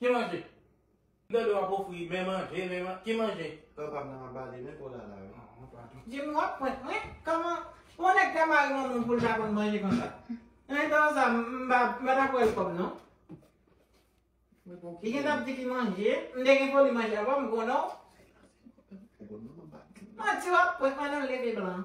Ki manje? M tande w ap ofri men manje, men manje. Ki manje? Frè pa m nan ap bale men kola la wi. Oh padon. Jimmy wap prank mwen? Kòman yon nèg ka mare yon moun pou l pa konn manje konsa? Nan etan w sa m pa m pa t ap welcome non. Li gentan ap di ki manje. M te gen foli manje avan m konnen w. Manti wap prank mwen nan leve blan.